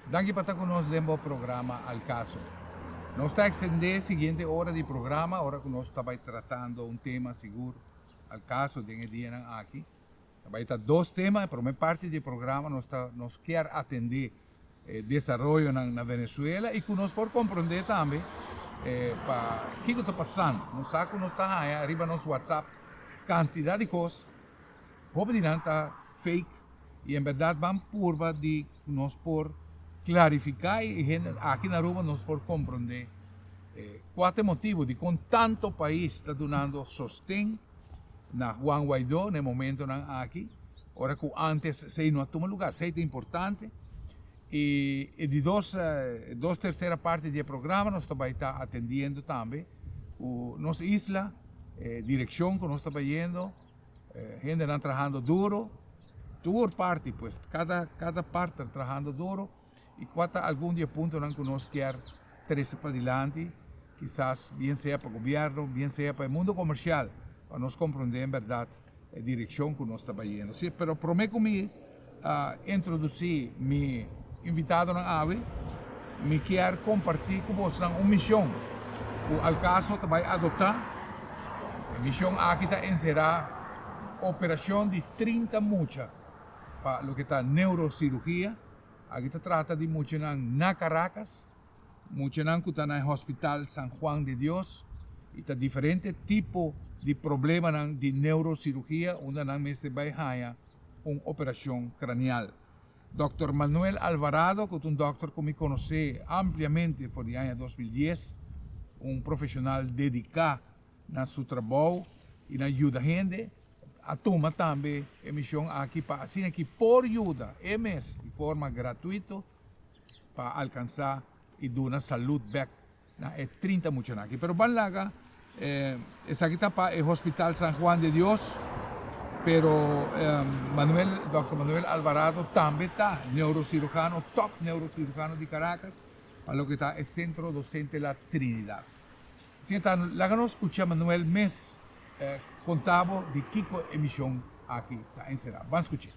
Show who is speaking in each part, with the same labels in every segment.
Speaker 1: Danki pa ta ku nos den bo programa Al Caso. Nos ta ekstendé siguiente ora di programa ora ku nos ta bai tratando un tema sigur al kaso den e dianan aki. Ta bai ta dos tema, e promé parti di e programa nos ta nos kier atendé e desaroyonan na Venezuela i ku nos por komprondé tambe e pa kiko ta pasando. Nos sa ku nos ta haña riba nos whatsapp kantidat di kos, hopi di nan ta fake y en berdad ban purba di cu nos por clarifica y aki na Aruba nos por compronde cua ta e motibo dicon tanto pais ta dunando sosten na Juan Guaido na e momentonan aki ora cu antes esey no a tuma lugar. Esey ta importante y e di dos dos tercera parti di e programa nos ta bay ta atendiendo tambe cu nos isla direccion cu nos ta bayendo. eh, hendenan trahando duro, tur parti pues, cada, cada parte trahando duro, y cuata algun die puntonan que nos kier trece pa dilanti, quizás bien sea pa gobierno, bien sea pa el mundo comercial, pa nos comprende en verdad e direccion que nos ta bayendo. Sí, pero prome con mi, a introduci mi invitadonan awe, mi kier comparti cu bosnan un mision cu Alcaso ta bay adopta. E mision aki ta encera operacion di trinta mucha pa loke ta neurocirugia. Aki ta trata di muchanan na Caracas, muchanan cu ta na e Hospital San Juan de Dios y ta diferente tipo di problemanan di neurocirugia unda nan mester bay haya. un operacion cranial. Dokter Manuel Alvarado, cu ta un dokter cu mi conoce ampliamente for di aña dos mil dies, un profesional dedica na su trabou y na yuda hende, a tuma tambe e mision aki pa asina ki por yuda e mes di forma gratuito pa alcansa y duna salud bek na e trinta muchanan aki. Pero ban laga esaki ta pa e Hospital San Juan de Dios, pero Manuel, Dòkter Manuel Alvarado tambe ta neurocirujano, tòp neurocirujano di Caracas pa loke ta e Centro Docente La Trinidad. Asina ta, laga nos skucha Manuel mes konta bo di kiko e mishon aki ta enserá. Ban skuch'é.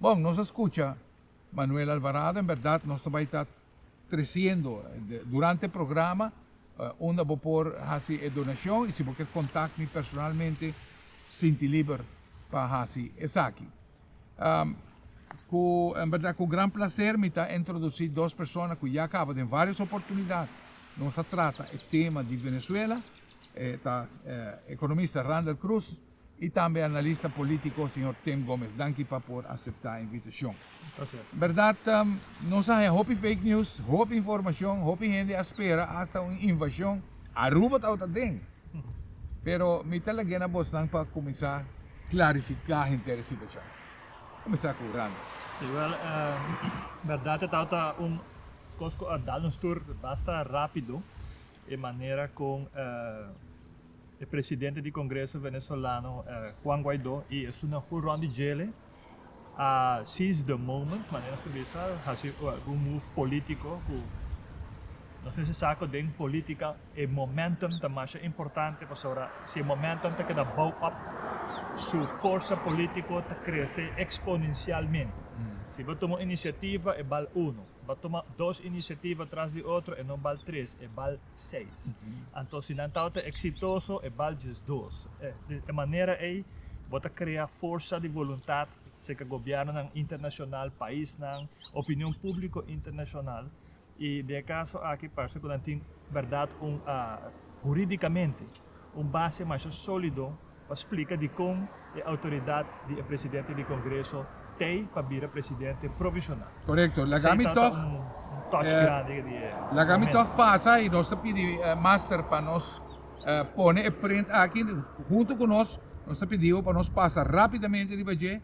Speaker 1: Bon, nos a scucha Manuel Alvarado, en berdad nos ta bai ta treciendo durante programa unda bo por haci e donacion y si bo kier contact mi personalmente sinti liber pa haci esaki. Cu en berdad cu gran placer mi ta introduci dos persona cu ya caba den varios oportunidad nos a trata e tema di Venezuela, ta economista Randall Cruz y tambe analista politico señor Tim Gomez. Danki pa por acepta invitacion. Berdad nos a haña hopi fake news, hopi informacion, hopi hende a spera hasta un invasion. Aruba tabata den. Pero mi ta lag'e na bosnan pa cuminsa clarifica henter e situacion. Cuminsa cu Randall. Si, wel,
Speaker 2: berdad e tabata un cos cu a dal nos tur basta rapido e manera con. E presidente di Congreso Venezolano Juan Guaido y esun nan full rond di djele a seize the moment manera nos ta bisa haci algun move politico cu nos mester sa cu den politica e momentum ta masha importante pasobra si e momentum ta keda bouw up su forsa politico ta crece exponencialmente si bo tuma un iniciativa e bal uno bo tuma dos iniciativa tras di otro e no bal tres e bal seis. Anto si nan tabata eksitoso e bal djes dos. Di e manera ei bo ta krea forsa di voluntat serka gobièrnunan internashonal, paisnan, opinion públiko internashonal. I den e kaso aki parse ku nan tin bèrdat un, hurídikamente, un base masha sólido. pa splika dikon e outoridat di e presidente di Congreso t'ei pa bira presidente provisional. Correcto. Laga mi
Speaker 1: toch
Speaker 2: laga mi toch
Speaker 1: pasa y nos
Speaker 2: ta
Speaker 1: pidi master pa nos pone e print aki hunto cu nos. Nos ta pidibo pa nos pasa rapidamente riba dje.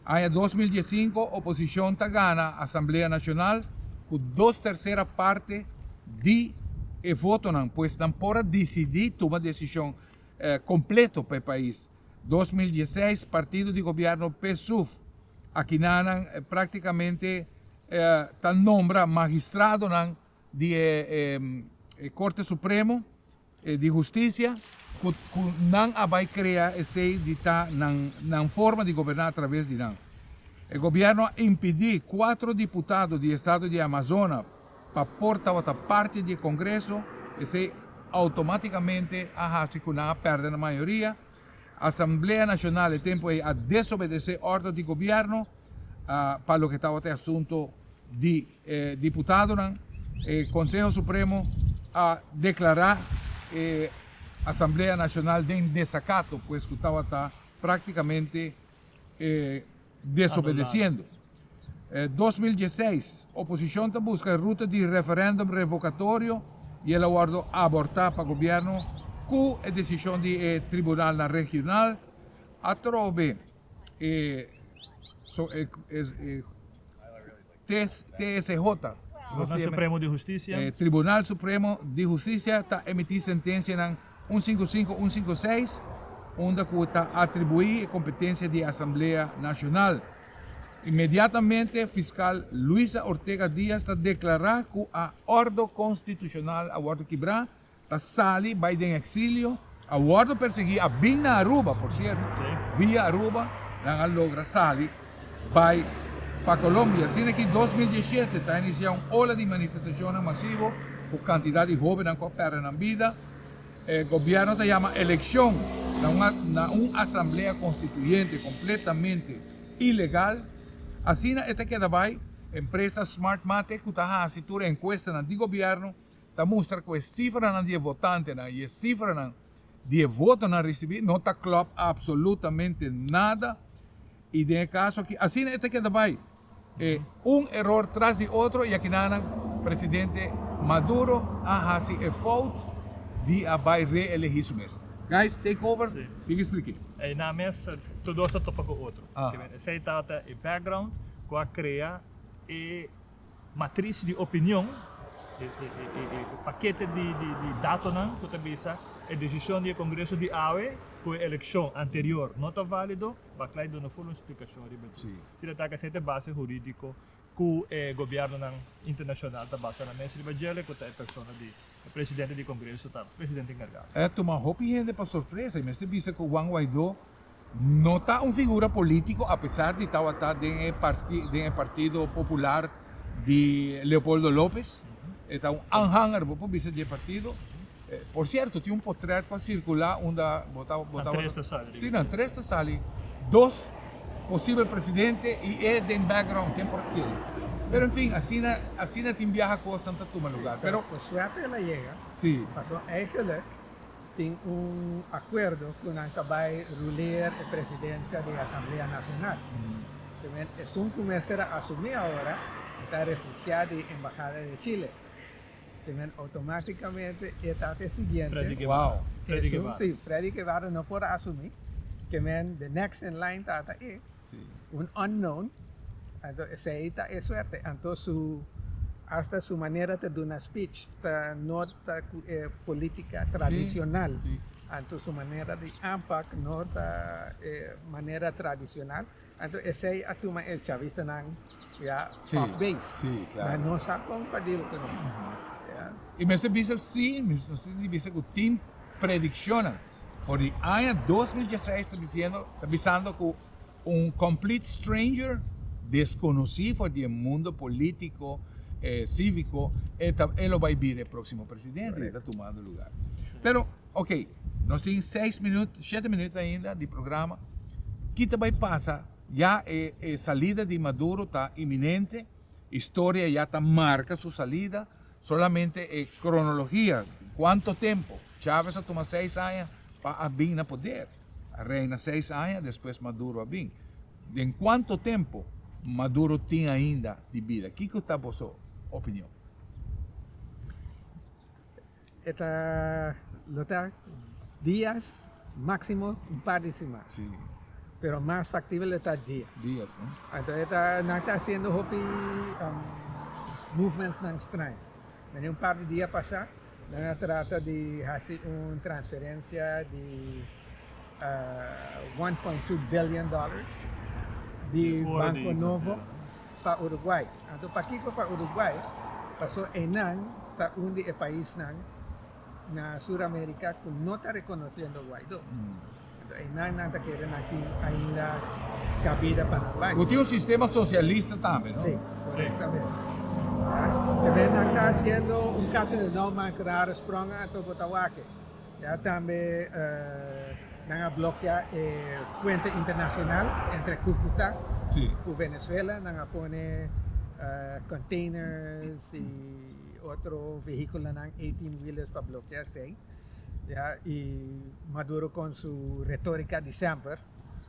Speaker 1: Aña dos mil diesinco oposicion ta gana Asamblea Nacional cu dos tercera parte di e votonan pues nan por a dicidi tuma decision completo pa e pais. Dos mil dieseis partido di gobierno PSUV a kinanan practicamente ta nombra magistradonan di e Corte Supremo di Husticia cu nan a bay crea esey di ta nan forma di goberna a traves di nan. E gobierno a impidi cuatro diputado di estado di Amazona Pa por tabata parti di e Congreso, esei automaticamente a haci cu nan a perde nan mayoria. Asamblea Nacional e tempo ei a desobedece ordo di Gobierno pa loke tabata e asunto di e diputadonan. E Conseho Supremo a declara e Asamblea Nacional den desacato, pues cu tabata practicamente. e desobedeciendo. E dos mil dieseis, oposicion ta busca e ruta di referendum revocatorio y el a wordo aborta pa gobierno cu e decision di e tribunalnan regional atrobe e TSJ, Tribunal
Speaker 2: Supremo di Hustisia, Tribunal Supremo
Speaker 1: di Hustisia ta emití sentensianan un sinku sinku, un sinku seis unda ku ta atribuí e kompetensia di e Asamblea Nashonal. Inmediatamente Fiskal Luisa Ortega Diaz ta deklará ku a Ordo Konstitushonal a wòrdu kibrá Ta sali bai den exilio, a wordo persegui, a bin na Aruba por cierto, via Aruba nan a logra sali bai pa Colombia. Asina aki dos mil diesisiete ta inicia un ola di manifestacionnan masivo cu cantidad di hobennan cu a perde nan bida. E gobierno ta yama eleccion na un asamblea constituyente completamente ilegal. Asina e ta keda bai empresa Smartmatic cu ta haci tur e encuestanan di gobierno ta mustra ku e sifranan di e votantenan i e sifranan di e votonan risibí no ta klòp apsolutamente nada i den e kaso aki asina e ta keda bai, e un eror tras di otro i akinanan presidente Maduro a hasi e fout di a bai reelegí su mes. Guys, take over, sigui splik'é. Einan mes
Speaker 2: tur dos ta topa ku otro. Esei tabata
Speaker 1: e
Speaker 2: background ku a krea e Matris di opinion, e pakete di datonan ku ta bisa e desishon di e Kongreso di awe ku e elekshon anterior no ta válido, Barclay duna full un splikashon riba dje. Si ta taka
Speaker 1: esei ta e
Speaker 2: base hurídiko ku e gobièrnunan internashonal ta basa nan mes riba djele ku ta e persona di E presidente di Congreso ta presidente encargado. E tuma hopi hende
Speaker 1: pa sorpresa y mester bisa cu Juan Guaido no ta un figura politico apesar di tawata den e den e Partido Popular di Leopoldo Lopez. E ta un aanhanger, bo por bisa di e partido. Por cierto, tin un potret cu a circula unda bo ta, bo ta, Nan tres ta sali den e prensa. si, nan tres ta sali, dos. posibel presidente y e den background ken por kere pero en fin asina asina tin biaha cosnan ta tuma lugar pero por suerte el a
Speaker 3: yega si paso
Speaker 1: eigenlic
Speaker 3: tin un acuerdo cu nan ta bay ruleer e presidencia den asamblea nacional esun cu mester a asumi ahora e ta refugia den embahada de Chile. Kimen automáticamente e ta te siguiente. Freddy Guevara.
Speaker 2: Freddy Guevara. Sí,
Speaker 1: Freddy
Speaker 2: Guevara no
Speaker 3: por asumí. Kimen the next in line ta ta e. Sí. Un unknown. Anto esei ta e suerte. Anto su hasta su manera ta duna speech ta no ta ku e política tradicional. Sí, sí. Anto
Speaker 1: su manera
Speaker 3: di aanpak no ta e manera tradicional. Anto esei a tuma e chavistanan. ya off base si claro
Speaker 1: pero nos a con pa deal con e y mester bisa si mester di bisa cu tin prediccionnan for di aña dos mil diesseis ta diciendo ta bisando cu un complete stranger desconoci for di e mundo politico e civico e ta e lo bay bira e proximo presidente y ta tumando lugar pero okay nos tin seis minut shete minut ainda di programa kita bay pasa Ya e e salida di Maduro ta iminente, historia ya ta marca su salida, solamente e cronologia cuanto tempo, Chavez a tuma seis aña pa a bin na poder, a reina seis aña despues Maduro a bin, den cuanto tempo Maduro tin ainda di bida? Kico ta boso opinion?
Speaker 3: E ta lo ta dias maximo un par di siman
Speaker 1: pero mas
Speaker 3: factible lo ta dias anto
Speaker 1: e ta nan
Speaker 3: ta haciendo hopi movements nan straño mane un par di dia pasa nan a trata di haci un transferencia di one point two billion dollars di banco
Speaker 2: nobo pa
Speaker 3: Uruguay. Anto pakiko pa Uruguay? Paso eynan ta un di e paisnan na Sur America ku no ta rekonosiendo Guaido. Anto eynan nan ta kere nan tin ainda kabida pa nan bai. Bo tin un sistema
Speaker 1: sosialista tambe, no? Si,
Speaker 3: korektamente. Te bai nan ta hasiendo un kato di nou man ku raro sprong anto bo ta wak e. Ya tambe nan a blokeá e puente internacional entre Cúcuta cu
Speaker 1: Venezuela,
Speaker 3: nan a pone containers y otro vehiculonan eighteen wheelers pa blokeá esei, ya, y Maduro con su retorica di semper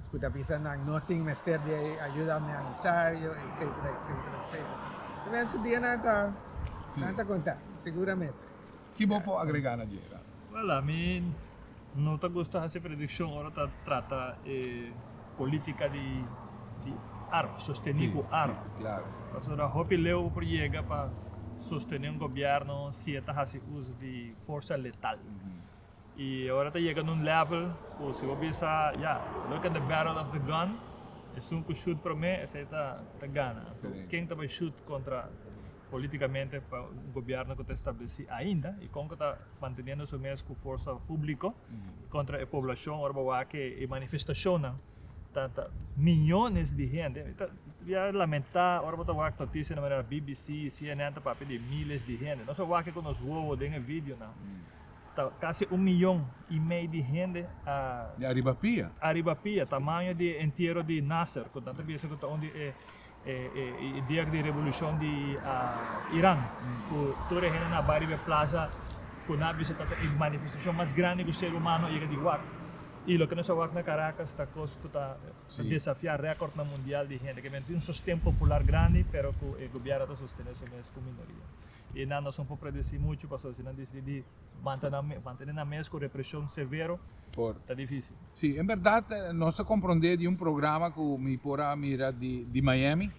Speaker 3: cu ta bisa nan no tin mester di ayuda humanitario etcetera etcetera etcetera. Su dia nan ta conta, seguramente. Ki bo por
Speaker 1: agregá na dje nan? Wèl, ami
Speaker 2: no ta gusta hasi predikshon ora ta trata e polítika di arma, sostení ku arma. Pasobra
Speaker 1: hopi leu
Speaker 2: bo por yega pa sostené un gobièrnu si e ta hasi uso di forsa letal. I ora ta yega na un lèvel ku si bo bisa, ya, look at the barrel of the gun, esun ku shut promé esei ta gana. Anto ken ta bai shut
Speaker 1: kontra?
Speaker 2: políticamente pa un gobierno cu ta estableci ainda y con cu ta manteniendo su mes cu forza publico contra e poblacion ora bo wak e manifestacionnan ta ta miyones di hende mi ta bia lamenta ora bo ta wak noticia na manera bbc, cnn ta papia di miles di hende nos a wak cu nos wowo den e videonan ta casi un miyon y mei di hende a Di ariba
Speaker 1: pia. ariba pia
Speaker 2: tamaño di e entiero di Nasser cu nan ta bisa cu ta un di e E dia di revolucion di Iran cu tur e hende na baria be plaza cu na bisa ta e manifestacion mas grandi cu ser humano a yega di wak y loke nos a wak na Caracas ta cos cu ta desafia recordnan mundial di hende. Kiberen tin un sosten popular grandi pero cu e gobierno ta sostene su mes cu minoria. E nan nos no por predeci muchu pasobra si nan dicidi di manta nan mes, mantene nan mes cu represion severo Por. ta dificil. Si, en berdad
Speaker 1: nos ta compronde di un programa cu mi por a mira di di Miami,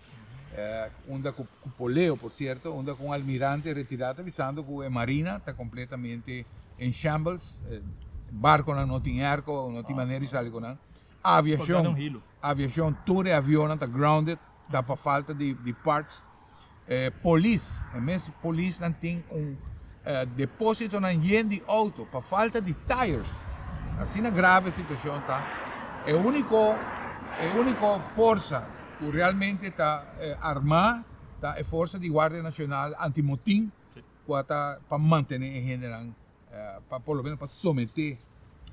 Speaker 1: unda cu cu poleo por cierto, unda cu un almirante retira ta bisando cu e marina ta completamente en shambles, barconan no tin herco, no tin manera di sali cu nan, aviacion, aviacion, tur e avionnan ta grounded, ta pa falta di di parts. e polis e mes polis nan tin un deposito nan yen di auto pa falta di tires asina grave situacion ta e unico e unico forsa cu realmente ta arma ta e forsa di guardia nacional antimotin cu a ta pa mantene e hende nan. pa por lo menos pa someté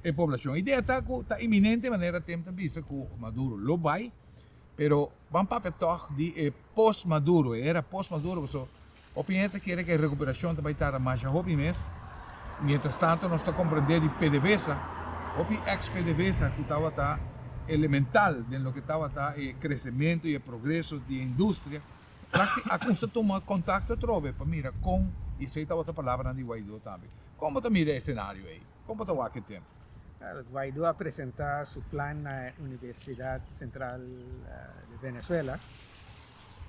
Speaker 1: e poblacion. Idea ta cu ta inminente manera tem ta bisa cu Maduro lo bay, pero ban papia tog di e post Maduro, e era post Maduro, pasobra hopi hende ta kere cu e recuperacion ta bay tarda masha hopi mes, mientras tanto nos ta comprende di pdvsa, hopi ex pdvsa cu tabata elemental den loke tabata e crecemento y e progreso di e industria, Lakti a custa tuma contacto atrobe pa mira con, y esey tabata palabranan di Guaido tambe, con bo ta mira e escenario ey? Con bo ta wak e tempo? Guaido a
Speaker 3: presenta su plan na e Universidad Central di Venezuela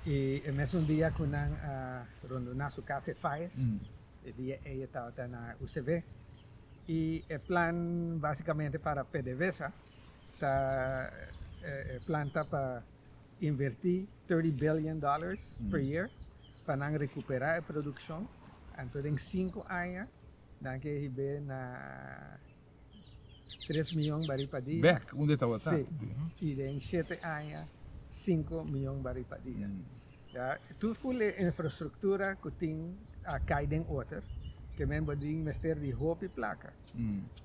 Speaker 3: y e mesun dia cu nan a rondona su casa e Faes, e dia ey e tabata na UCV, y e plan basicamente para PDVSA ta e plan ta pa inverti thirty billion dollars per year pa nan rekupera e produkshon anto den sinku aña nan ke hib'é na tres
Speaker 1: miyon barí
Speaker 3: pa dia Bek unda e tabata.
Speaker 1: si
Speaker 3: i den shete
Speaker 1: aña
Speaker 3: sinku miyon barí pa dia ya tur ful e infrastruktura ku tin a kai den oter ke men bo tin mester di hopi plaka.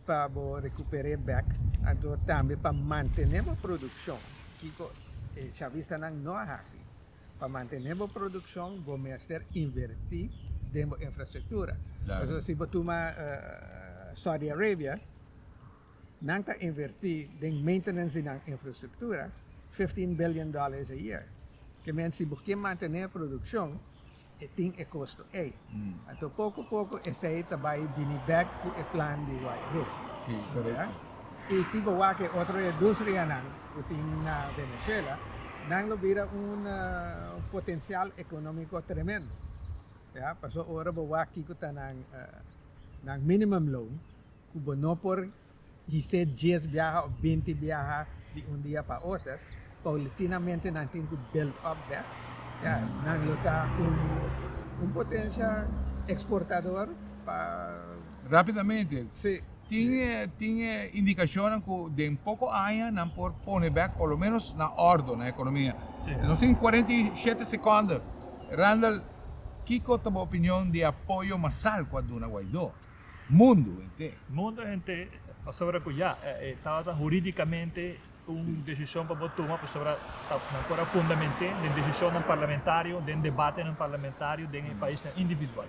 Speaker 3: pa bo rekuper'é bèk anto tambe pa mantené bo produkshon, kiko e chavistanan no a hasi? Pa mantené bo produkshon bo mester invertí den bo infrastruktura. Pasobra si bo
Speaker 1: tuma
Speaker 3: Saudi Arabia, nan ta invertí den maintenance di nan infrastruktura fifteen billion dollars a year. Ke men si bo ke mantené e produkshon e tin e kosto ei. Anto poko poko esei ta bai bini bèk ku e plan di White Brook. Si, korekto.
Speaker 1: I si bo
Speaker 3: wak e otro industrianan ku tin na Venezuela, nan lo bira un potensial ekonómiko tremendo. Pasobra ora bo wak kiko ta nan minimum loan ku bo no por di se dies biaha of binti biaha di un dia pa oter, paulitinamente nan tin ku build up dèt, ya nan lo ta un potensia eksportador pa. Rápidamente,
Speaker 1: tin
Speaker 3: e tin e
Speaker 1: indikashonnan ku den poko aña nan por pone bèk por lo ménos na òrdu nan ekonomia. Nos tin kuarenta
Speaker 2: i
Speaker 1: shete sekònde. Randall, kiko ta bo opinion di apoyo masal ku a duna Guaidó? mundu henter. Mundu henter,
Speaker 2: pasobra ku ya, e tabata huridikamente un desishon pa bo tuma, pasobra nan por a fundament'é den desishonnan parlamentario, den debatenan parlamentario, den e paisnan individual.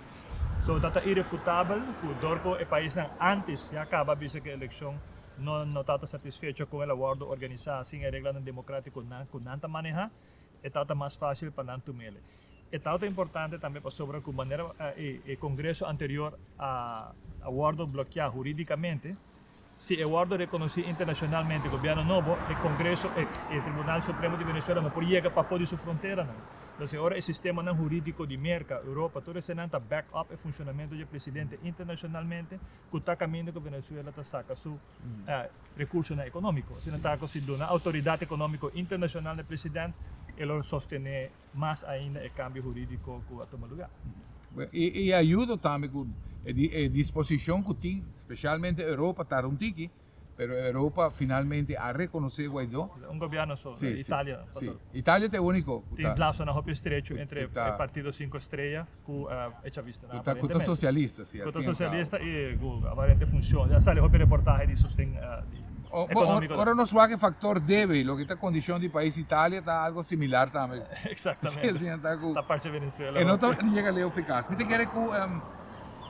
Speaker 2: So, dat ta irefutabel ku dor ku e paisnan ántes ya kaba bisa ku e elekshon no tabata satisfecho kon el a wòrdu organisá sin e reglanan demokratikonan ku nan ta manehá, e tawata mas fásil pa nan tum'é. E tawata importante tambe pasobra ku manera e kongreso anterior a wòrdu blokeá hurídikamente, si e wòrdu rekonosí internashonalmente gobièrnu nobo, e kongreso, e Tribunal Supremo di Venezuela no por yega pafó di su fronteranan. Entonces ora e sistemanan hurídiko di Merka, Europa, tur esenan ta back up e funshonamentu dje presidente internashonalmente ku ta kaminda ku Venezuela ta saka su Rekursonan ekonómiko. Asina ta ku si duna outoridat ekonómiko internashonal na e president, e lo sostené mas ainda e kambio hurídiko ku a tuma lugá. I a
Speaker 1: yuda tambe ku e disposishon ku tin, spesialmente Europa ta run tiki, pero Europa finalmente a rekonosé Guaidó. Un gobièrnu so,
Speaker 2: Italia. Italia ta e
Speaker 1: úniko ku ta. Tin lasonan hopi
Speaker 2: estrechu entre e partido Sinku
Speaker 1: Estrella.
Speaker 2: ku e chavista nan aparentemente. Ku ta sosialista
Speaker 1: si al fin al kabo. I ku aparente
Speaker 2: funshon, a sali hopi reportahe di sosten ekonómiko den.
Speaker 1: Ora nos
Speaker 2: wak e faktor
Speaker 1: debe, loke ta kondishon di pais Italia ta algo similar tambe. Eksaktamente.
Speaker 2: Ta parse
Speaker 1: Venezuela hopi. E no
Speaker 2: ta yega leu
Speaker 1: efikas. Mi ta kere ku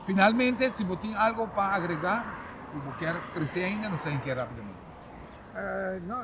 Speaker 1: finalmente si bo tin algo pa agregá ku bo kier trese ainda nos ta hinkié rápidamente.
Speaker 3: No.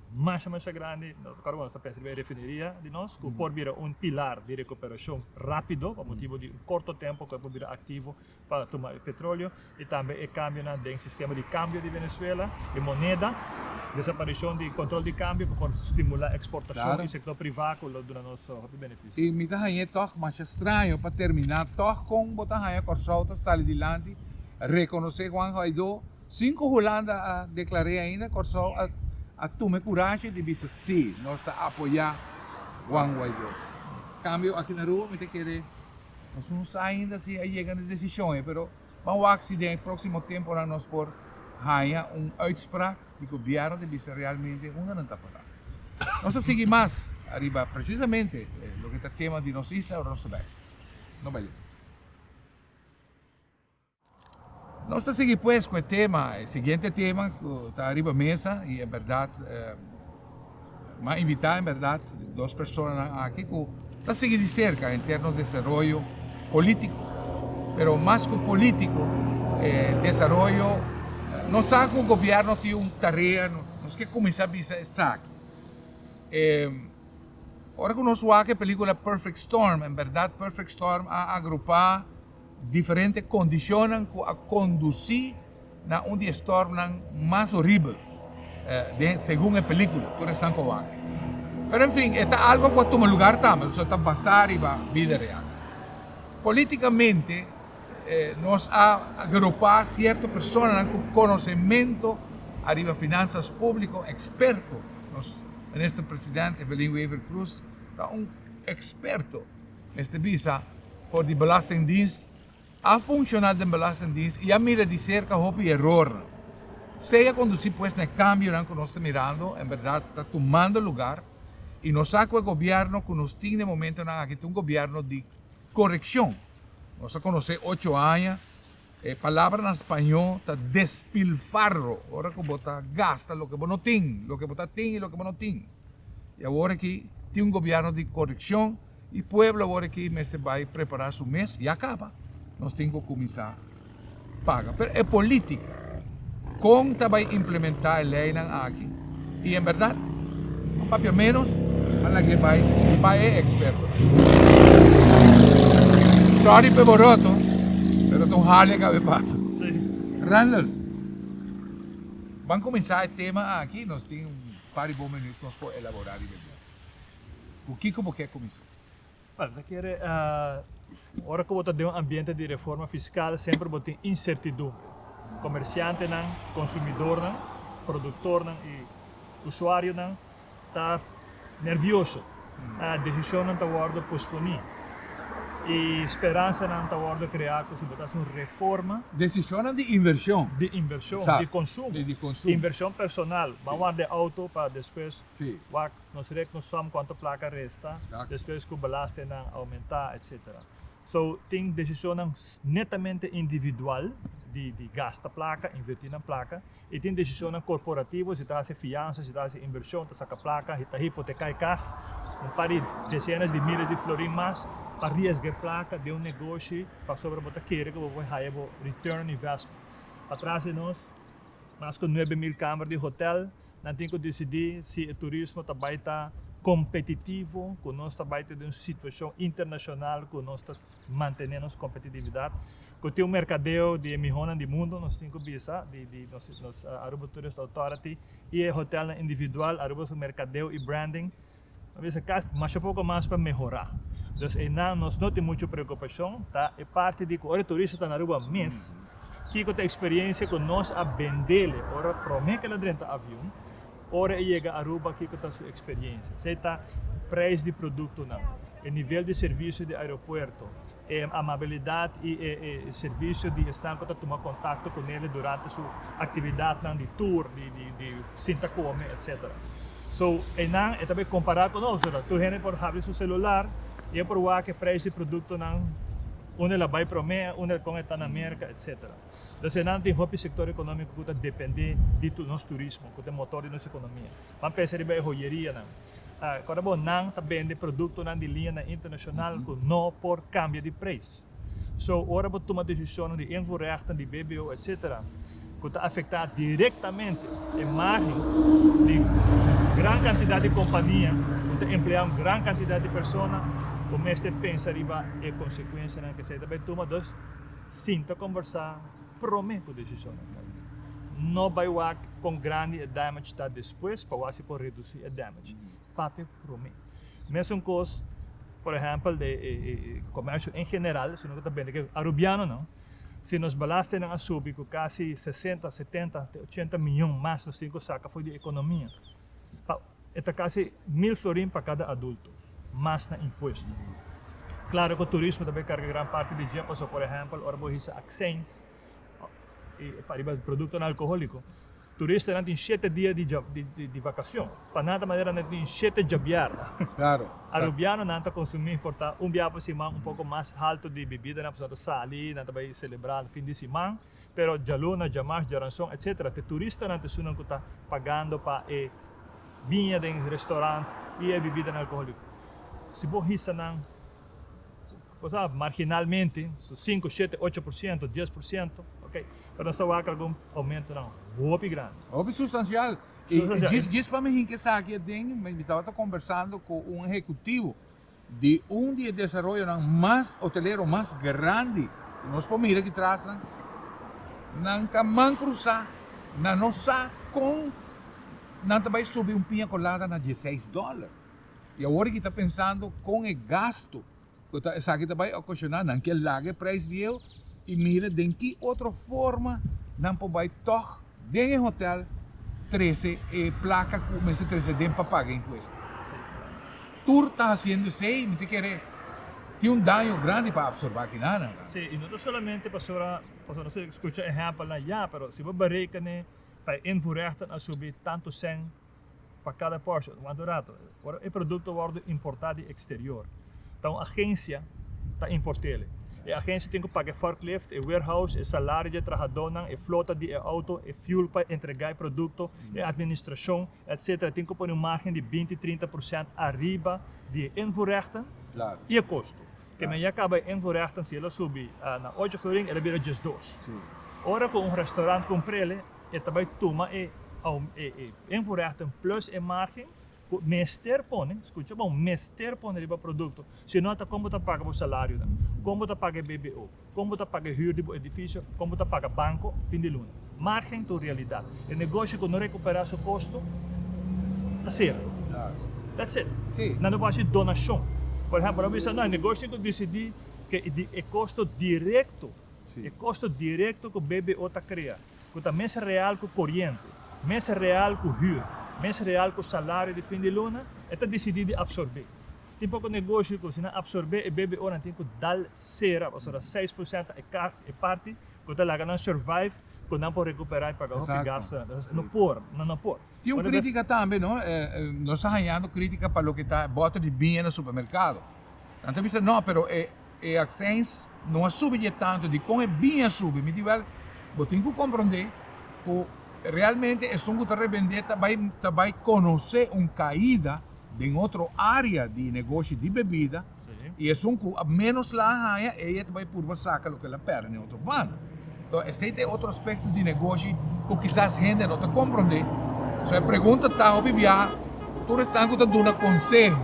Speaker 2: masha masha grandi, no ta kargo nos ta pensa riba e refineria di nos ku por bira un pilar di rekuperashon rápido pa motibu di un korto tempu ku e por bira aktivo pa tuma e petroleo i tambe e kambionan den sistema di kambio di Venezuela, e moneda, desaparishon di kontrol di kambio ku por stimulá eksportashon i sektor privá
Speaker 1: ku lo
Speaker 2: duna nos hopi benefisio. I mi ta hañ'é tòg
Speaker 1: masha straño pa terminá tòg kon bo ta haña Kòrsou ta sali dilanti, rekonosé Juan Guaidó, Sin cu Hulanda a declar'é ainda, Corsou a a tuma e curashi di bisa sí, nos ta apoyá Juan Guaidó. Cambio aki na Aruba mi ta kere, nos no sa ainda si a yega na e decision ei, pero ban wak si den e próximo temponan nos por haña un uitspraak di Gobierno di bisa realmente hunda nan ta para. Nos ta sigui mas ariba precisamente loke ta tema di nos isla ora nos ta bai. No bai lek. Nos ta sigui pues cu e tema, e siguiente tema cu ta riba mesa y en berdad m'a invita en berdad dos personanan aki cu ta sigui di cerca en terno desaroyo politico, pero mas cu politico e desaroyo, nos sa cu gobierno tin un tarea, nos ke cuminsa bisa esaki. E ora cu nos wak e pelicula Perfect Storm, en berdad Perfect Storm a agrupa. Diferente kondishonnan ku a kondusí na un di e stòrmnan mas horibel den segun e pelíkula, tur esnan ku a wak. Pero en fin, e ta algo ku a tuma lugar tambe, ta so ta basá riba bida real. Polítikamente nos a agropá sierto personanan ku konosementu ariba finansas públiko, eksperto, nos Minister Presidente Evelyn Wever-Croes ta un eksperto, Mester bisa, for di Belastingdienst a funciona den Belastingdienst y a mira di cerca hopi erornan. Sea conduci pues na e cambionan cu nos ta mirando, en berdad ta tumando lugar y nos sa cu e gobierno cu nos tin n'e momentonan aki ta un gobierno di correccion. Nos a conoce ocho aña. E palabra na spañó ta despilfarro, ora ku bo ta gasta loke bo no tin, loke bo ta tin i loke bo no tin. I awor aki tin un gobièrnu di korekshon i pueblo awor aki mester bai prepará su mes, ya kaba, nos tin ku kuminsá paga. Pero e polítika. Kon ta bai implementá e leinan aki i en bèrdat a papia ménos a lag'é bai pa e eksperto? Sòri p'e boroto, pero ta un hali a kabe pasa. Randall, Ban kuminsá e tema aki, nos tin un par di bon minüt ku nos por elaborá riba e tema. Ku kiko bo ke kuminsá? Buen, ta kere,
Speaker 2: ora ku bo ta den un ambiente di reforma fiskal semper bo tin insertidumbre. Komersiantenan, konsumidornan, produktornan i usuarionan ta nervioso. Desishonnan ta wòrdu posponí i speransanan ta wòrdu kreá ku si bo ta hasi un reforma. Desishonnan di
Speaker 1: invershon. Di invershon, di
Speaker 2: konsumo. Di
Speaker 1: konsumo.
Speaker 2: Invershon
Speaker 1: personal.
Speaker 2: Bo a warda e outo pa despues Si. Wak, nos
Speaker 1: rek nos
Speaker 2: som cuanto placa resta, despues cu
Speaker 1: belastenan
Speaker 2: aumenta, etcetera. So, tin decisionnan netamente individual di, di gasta placa, inverti na placa, y tin decisionnan corporativo, si ta haci fianza, si ta haci inversion, ta saca placa, si ta hipoteca e cas, un par di decenas di miles di florin mas, pa riesga e placa den un negoshi, pasobra bo ta kere cu bo por haya bo return on investment. Patras di nos, mas cu nuebe mil camber di hotel, Nan tin ku disidí si e turismo ta bai ta kompetitivo, ku nos ta bai ta den un situashon internashonal ku nos ta mantené nos kompetitividat. Ku tin un merkadeo di e mihónan di mundu, nos tin ku bisa di di nos nos Aruba Tourist Authority i e hotèlnan individual aruba su merkadeo i branding Nos bisa ka masha poko mas pa mehorá. Dus einan nos no tin muchu preokupashon ta e parti di ku ora e turista ta na Aruba mes, kiko ta e eksperiensia ku nos a bendele ora promé kel a drenta avion, ora e yega Aruba kiko ta su eksperiensia. Esei ta preis di produktonan, e nivel di servisio di aeropuerto, E amabilidad y e servicio di esnan cu ta tuma contacto cu Nelly durante su actividadnan di tour, di sinta come, etc. So, eynan e ta bay compara cu nos, verdad? Tur hende por habri su celular y e por wak e prijs di productonan, unda el a bay prome, unda con e ta na Merca, etc. Entonces, eynan tin hopi sector economico cu ta depende di nos turismo, cu ta e motor di nos economia. Ban pensa riba e hoyerianan. Ta recorda bo, nan ta bende productonan di liñanan internacional cu no por cambia di prijs. So, ora bo tuma decisionnan di invoerrechten di BBO etc. Cu ta afecta directamente e margen di gran cantidad di compania cu ta emplea un gran cantidad di persona, bo mester pensa riba e consecuencianan. Kesa ta bay tuma, dos, sinta conversa. prome ku desicionnan ta lei. No bai wak kon grandi e damage ta despues pa wak si por reduci e damage. Papia prome. Mesun kos por ehempel de e comercio en general, si nos no ta bende ke Arubianonan, si nos balastennan a subi ku casi sesenta, setenta te ochenta miyon mas nos tin ku saka fo'i di e economia pa. E ta casi mil florin pa cada adulto, mas na impuesto. Claro cu turismo tambe carga gran parti di dje, pasobra por ehempel ora bo hisa accijns pa riba productonan alcoholico, turistanan tin shete dia di vacacion, pa nan ta manera nan tin shete djabiarda.
Speaker 1: Arubiano nan ta
Speaker 2: consumi por ta un biaha pa siman un poco mas halto di bibidanan, pasobra nan ta sali, nan ta bay celebra fin di siman. Pero djaluna, djamars, djaranson, etc. Te turistanan t'e sunan cu ta pagando pa e biña den restaurant y e bibidanan alcoholico. Si bo hisa nan, cosa, marginalmente, su cinco, shete, ocho por ciento, dies por ciento, ok. Pero nos ta wak algun aumentonan hopi grandi. Hopi sustancial.
Speaker 1: Y djis pa mi hinca esaki aden, mi tabata conversando cu un ehecutivo di un di e desaroyonan mas hotelero mas grandi ku nos por mira di trasnan, nan ta man krusá, nan no sa kon nan ta bai subi un piña kolada na dieseis dòler. I awor aki ta pensando kon e gastu ku ta esaki ta bai okoshoná, nan ke laga e preis bieu i mira den ki otro forma nan por bai tòg den e hotel trese e plaka ku mester trese den pa paga impuesto. Tur ta hasiendo esei, mi ta kere tin un daño grandi pa absorbá kinanan akí. Sí, i no ta solamente
Speaker 2: pasobra, pasobra nos a skucha ehèmpelnan ya, pero si bo bereka n'e pais ein voorrechten a subi tantu sèn pa kada pòrshon. Wanta un ratu, ora e produkto wòrdu importá di eksterior, ta un agensia ta import'el. E agensia tin ku paka e forklift, e warehouse, e salario di e trahadónan, e flota di e outo, e fuel pa entregá e produkto, e administrashon, etc. Tin cu pone un margen di binti, trinta porcent ariba di e invoerrechten y e costo. Ke men ya caba e invoerrechten, si el a subi na ocho florin, el a bira djes dos. Ora cu
Speaker 1: un restaurant
Speaker 2: cumpr'ele, e ta bay tuma e invoerrechten plus e margen cu mester pone, scucha bon, mester pone riba producto, si no ata con bo ta paga bo salario nan? Con bo ta paga e bbo? Kon bo ta paga e hür di bo edifisio? Kon bo ta paga banko fin di luna? Márgen ta un realidat. E negosio ku no rekuperá su kosto ta sera. That's
Speaker 1: it.
Speaker 2: Nan no por hasi
Speaker 1: donashon.
Speaker 2: Por ehèmpel, nan por bisa, no, e negosio tin ku disidí ke e kosto direkto, e kosto
Speaker 1: direkto
Speaker 2: ku BBO ta krea, ku ta mes real ku koriente, mes real ku hür, mes real ku salario di fin di luna, e ta disidí di absorb'é. Tin poko negoshi ku si nan apsorbé e BBO nan tin ku dal sera pasobra ta seis por sènt ta e kart, e parti ku ta laga nan survive ku nan por rekuperá i paga hopi gastu nan. Entonces no
Speaker 1: por,
Speaker 2: nan
Speaker 1: no por.
Speaker 2: Tin un krítika tambe,
Speaker 1: no? Nos ta hañando krítika pa loke ta bòter di biña na supermerkado. Nan ta bisa, no, pero e. E aksens no a subi dje tantu di kon e bin a subi. Mi di, Wèl, bo tin ku komprondé ku realmente esun ku ta rebendé ta bai ta bai konosé un kaida den otro área di negoshi di bebida i esun ku
Speaker 2: a
Speaker 1: ménos la a haña e e ta bai purba saka loke el a pèrdè den otro banda. Tò, esei ta e otro aspekto di negoshi ku kisas hende no ta komprondé. So e pregunta ta, hopi biaha tur esnan ku ta duna konseho.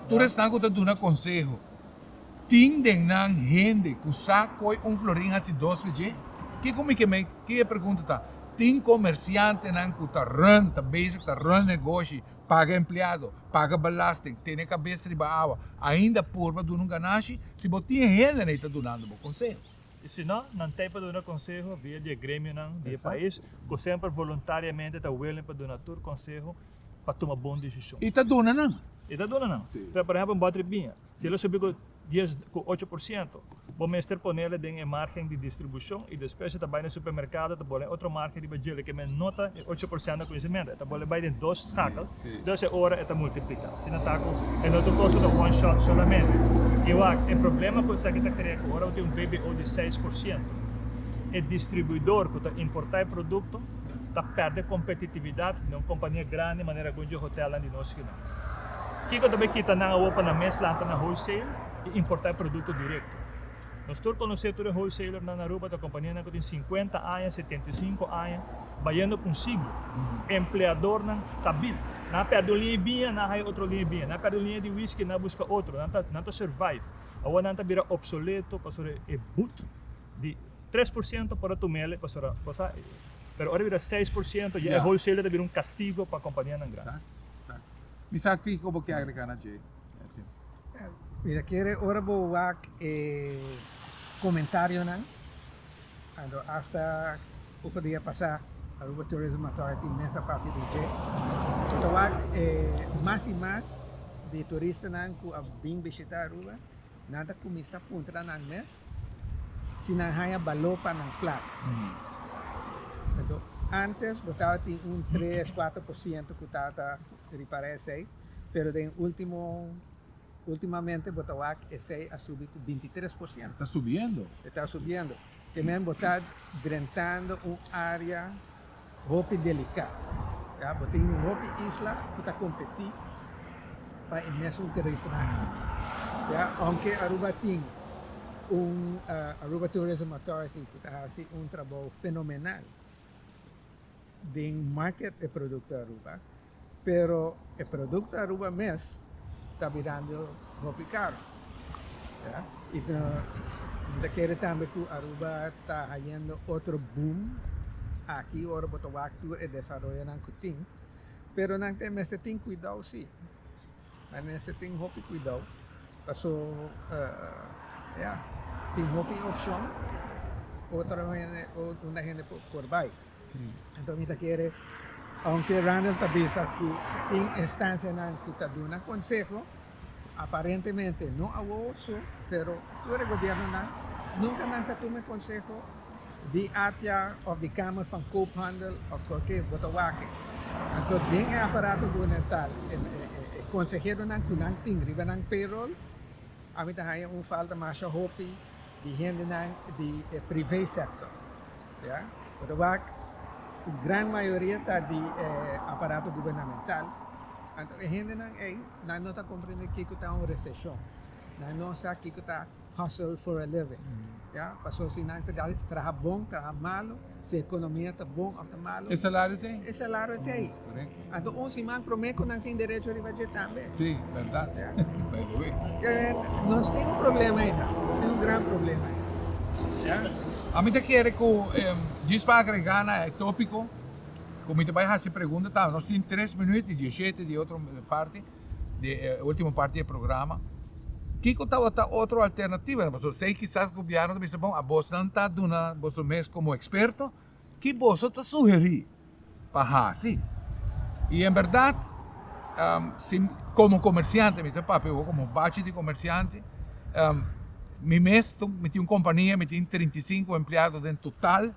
Speaker 1: Tur esnan ku ta duna konseho, tin den nan hende ku sa koe un florin hasi dos ve dje? Ke ku mi ke mei? Ke e pregunta ta? Tin komersiantenan ku ta rùn, ta bezig ta rùn negoshi, paga empleado, paga belasting, tene kabes riba awa, ainda purba duna un ganashi? Si bo tin e hendenan ei ta dunando bo konseho. I si no, nan
Speaker 2: ta ei pa duna konseho via di e gremionan di e pais, ku
Speaker 1: semper
Speaker 2: voluntariamente ta willing pa duna tur konseho pa tuma bon desishon. I ta duna nan.
Speaker 1: I ta duna nan.
Speaker 2: Si. Por ehempel un bòtri
Speaker 1: biña,
Speaker 2: si e lo subi ku dies, ku ocho por siento, bo mester pone el den e margen di distribushon i despues e ta bai na e supermerkado, e ta bole otro margen riba dje lo ke men no ta e ocho por siento ku e semento. E ta bole bai den dos skakel, dus e ora e ta multiplika. Asina ta ku e no ta kosa ta one shot solamente. I wak, e problema ku esaki ta krea ku ora bo tin un BBO di seis por siento, e distribuidor ku ta importá e produkto, ta pèrdè kompetitividat den un kompania grandi manera algun dje hotèlnan di nos kinan. Kiko ta bai kita nan awor pa nan mes lanta na wholesale i importá e produkto direkto? Nos tur konosé tur e wholesalernan na Aruba ta kompanianan ku tin sinkuenta aña, setenta i sinku aña, bayendo pa un siglo. Empleadornan stabil. Nan a pèrdè un liña di biña, nan a haya otro liña di biña. Nan a pèrdè un liña di whisky, nan a buska otro. Nan ta survive. Awor nan ta bira opsoleto pasobra e but di tres por ciento por a tumele pasobra cosa e pero ora bira seis por ciento ya e wholesaler ta bira un castigo pa companianan grandi. Exacto, exacto. Mi sa
Speaker 1: kiko bo ke agrega na dje, Edwin.
Speaker 3: Mira kere ora bo wak e comentarionan ando hasta oko dia pasa Aruba Tourism Authority mes a papia di dje bo ta wak e mas y mas di turistanan cu a bin bishita Aruba. Nan ta kuminsá puntra nan mes si nan haña baló pa nan plaka. Anto, ántes bo tabatin un tres, kuater por siento ku tabata ripará esei, pero den último, últimamente bo ta wak esei a subi ku binti tres por siento. Ta subiendo.
Speaker 1: E ta subiendo.
Speaker 3: Te men bo ta drentando un área. Hopi deliká. Ya bo tin hopi isla ku ta kompetí pa e mes un terisnan. Ya ounke Aruba tin un Aruba Tourism Authority ku ta hasi un trabou fenomenal den market e produkto Aruba. pero e produkto Aruba mes ta birando hopi karo, ya, i no ta kere tambe ku Aruba ta hayendo otro boom aki ora bo ta wak tur e desaroyonan ku tin, pero nan ta mester tin kuidou si, nan mester tin hopi kuidou, paso ya tin hopi opshon, otro hende, unda hende por bai. Enton mi ta kere, ounke Randall ta bisa ku tin instancianan ku ta duna konseho, aparentemente no awowo su, pero tur e gobiernonan nunka nan ta tuma e konseho di ATIA of di kamer van koophandel of kualke bo ta wak. Anto den e aparato gubernemental e konseheronan ku nan tin riba nan payroll, ami ta haña un falta masha hopi di hendenan di e privé sector, ya, pero wak ku gran mayoria ta di e aparato gubernamental, anto e hendenan ei nan no ta komprende kiko ta un reseshon, nan no sa kiko ta hustle for a living, ya, pasobra si nan ta traha bon, traha malo. si e ekonomia ta bon òf ta malu. E salario ta ei. E salario
Speaker 1: ta ei.
Speaker 3: Korek. Anto un siman promé ku nan tin derecho riba dje tambe. Sí, bèrdat.
Speaker 1: Ya. By the way.
Speaker 3: Ke
Speaker 1: nos tin un
Speaker 3: problema ei nan. Nos tin un gran problema ei. Ya. A mi ta kere
Speaker 1: ku em djis pa agregá na e tópiko ku mi ta bai hasi pregunta tambe. Nos tin tres minüt i dieshete di otro parti. di e ultimo parti di e programa, kiko tabata otro alternativa? Pasobra esei kisas gobièrnu ta bisa, bon, abosnan ta duna boso mes komo eksperto, ki boso ta sugerí pa hasi? I en bèrdat, si komo komersiante, mi ta papia awor komo bachi di komersiante, mi mes mi tin un kompania, mi tin trinta i sinku empleado den total.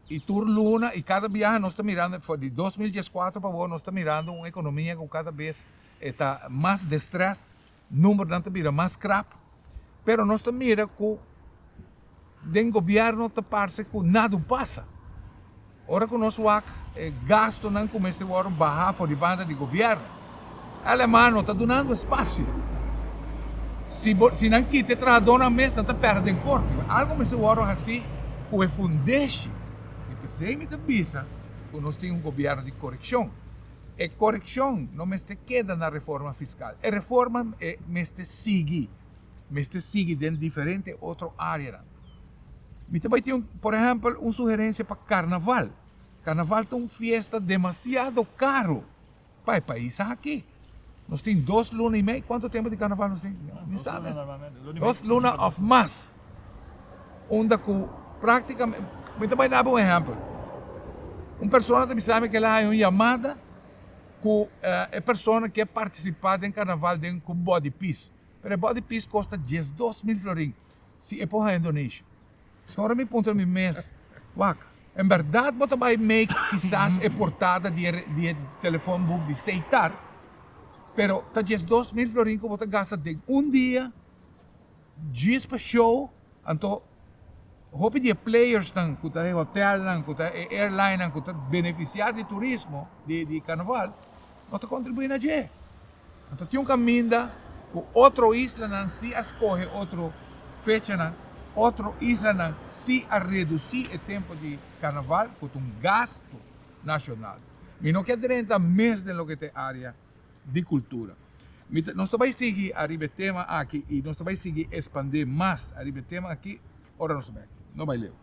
Speaker 1: I tur luna i kada biaha nos ta mirando, for di dos mil dieskuater pa awo, nos ta mirando un ekonomia ku kada bes e ta mas destrès, numbernan ta bira mas krap, pero nos ta mira ku den gobièrnu ta parse ku nada un pasa. Ora ku nos wak e gastunan ku mester wòrdu baha for di banda di gobièrnu. Alemano ta dunando espasio. Si bo si nan kita e trahadonan mes nan ta perde den korte. Algo mester wòrdu hasí ku e fundeshi. I p'esei mi ta bisa ku nos tin un gobièrnu di korekshon. E korekshon no mester keda na reforma fiskal. E reforma e mester sigui, mester sigui den diferente otro áreanan. Mi ta bai tin un, por ehèmpel, un sugerensia pa karnaval. Karnaval ta un fiesta demasiado karo. pa e pais aki nos tin dos luna y mei cuanto tempo di carnaval nos tin ni sa mes dos luna of mas unda cu practicamente mi ta bay dame un ehempel un persona ta bisami que el a haña un yamada cu e persona kier participa den carnaval den cu body piece pero e body piece costa diesdos mil florin si e por haya donation. Stora mi puntra mi mes, Wak, en berdad bo ta bai make kisas e portada di e telefon boek di Seitar, pero ta djes dos mil florin ku bo ta gasta den un dia djis pa show, anto hopi di e playersnan ku ta e hotelnan, ku ta e airlinenan ku ta benefisiá di turismo di karnaval, no ta kontribuí na dje. No ta tin un kaminda ku otro islanan si a skohe otro fechanan. Otro islanan si a redusí e tempu di karnaval ku ta un gastu nashonal. Mi no ke drenta mes den loke ta e área di kultura. Mi ta, nos ta bai sigui ariba e tema aki i nos ta bai sigui espandé mas ariba e tema aki ora nos ta bai aki. No bai leu.